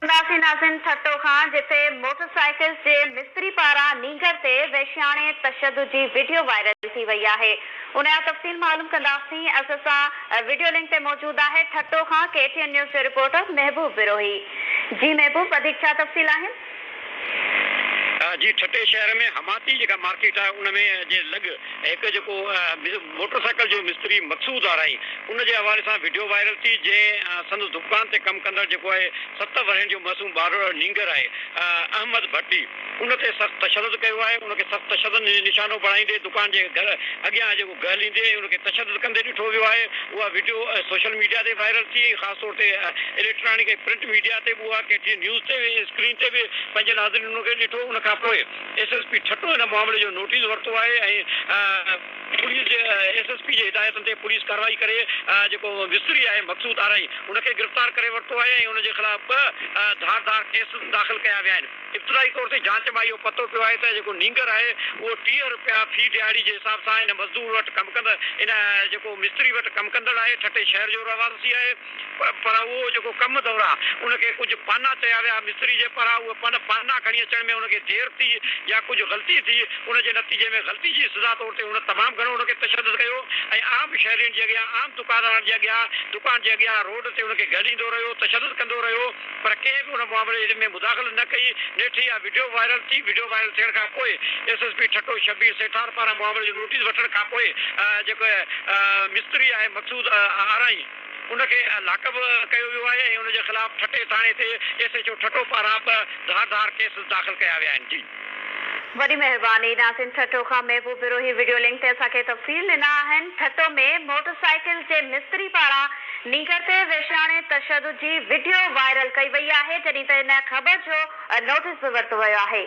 ناسين ناسين ٺٽو کان جتي موٽر سائيڪلز جي مستري پاران نينگر تي وحشياڻي تشدد جي وڊيو وائرل ٿي وئي آهي ان جا تفصيل معلوم ڪنداسين اسين سان وڊيو لنڪ تي موجود آهي ٺٽو کان ڪي ٽي اين نيوز جو رپورٽر محبوب بروهي جي محبوب وڌيڪ ڇا تفصيل آهن. جي ٺٽي شهر ۾ حماتي جيڪا مارڪيٽ آهي ان ۾ جي لڳ هڪ جيڪو موٽر سائيڪل جو مستري مقصود آرائي ان جي حوالي سان وڊيو وائرل ٿي جنهن سندس دڪان تي ڪم ڪندڙ جيڪو آهي ست ورهين جو معصوم ٻارڙو نينگر آهي احمد ڀٽي ان تي سخت تشدد ڪيو آهي ان کي سخت تشدد نشانو بڻائيندي دڪان جي گهر اڳيان جيڪو گهليندي ۽ ان کي تشدد ڪندي ڏٺو ويو آهي اها وڊيو سوشل ميڊيا تي وائرل ٿي خاص طور اتي اليڪٽرانڪ ۽ پرنٽ ميڊيا تي به اها ڪي ٽي اين نيوز تي اسڪرين تي به پنهنجي ناظرين ان کي ڏٺو ان کان پوء ايس ايس پي ٺٽو ان معاملي جو نوٽيس ورتو آهي ۽ پوليس جي ايس ايس پي جي هدايتن تي پوليس ڪارروائي ڪري جيڪو مصري آهي مقصود آرائي ان کي گرفتار ڪري ورتو آهي ۽ ان جي خلاف ٻه ڌار ڌار ڪيس داخل ڪيا ويا آهن. ابتدائي طور تي جانچ مان اهو پتو پيو آهي ته جيڪو نينگر آهي اهو ٽيهه رپيا في ڏهاڙي جي حساب سان ان مزدور وٽ ڪم ڪندڙ ان جيڪو مستري وٽ ڪم ڪندڙ آهي ٺٽي شهر جو رهواسي آهي پر اهو جيڪو ڪم دوران ان کي ڪجهه پانا چيا ويا مستري جي پاران اهي پن پانا کڻي اچڻ ۾ ان کي دير ٿي يا ڪجهه غلطي ٿي ان جي نتيجي ۾ غلطي جي سزا طور تي هن تمام گهڻو ان کي تشدد ڪيو ۽ عام شهرين جي اڳيان عام دڪاندارن جي اڳيان دڪان جي اڳيان روڊ تي ان کي گهليندو رهيو تشدد ڪندو رهيو. پر ڪنهن به ان معاملي ۾ مداخلت نه ڪئي، نيٺ اها وڊيو وائرل ٿي، وڊيو وائرل ٿيڻ کان پوء S S P Thatta Shabbir Sethar پاران معاملي جو نوٽيس وٺڻ کان پوء جيڪو مستري آهي مقصود آرائين ان کي لاڪب ڪيو ويو آهي ۽ ان جي خلاف ٺٽي ٿاڻي تي ايس ايڇ او ٺٽو پاران ٻه ڌار ڌار ڪيس داخل ڪيا ويا آهن. وڏي مهرباني ناظرين ٺٽو کان محبوب بروهي وڊيو لنڪ تي اسان کي تفصيل ڏنا آهن ٺٽو ۾ موٽر سائيڪل جي مستري پاران نينگر تي وحشياڻي تشدد جي وڊيو وائرل ڪئي وئي آهي جڏهن ته ان خبر جو نوٽيس به ورتو ويو آهي.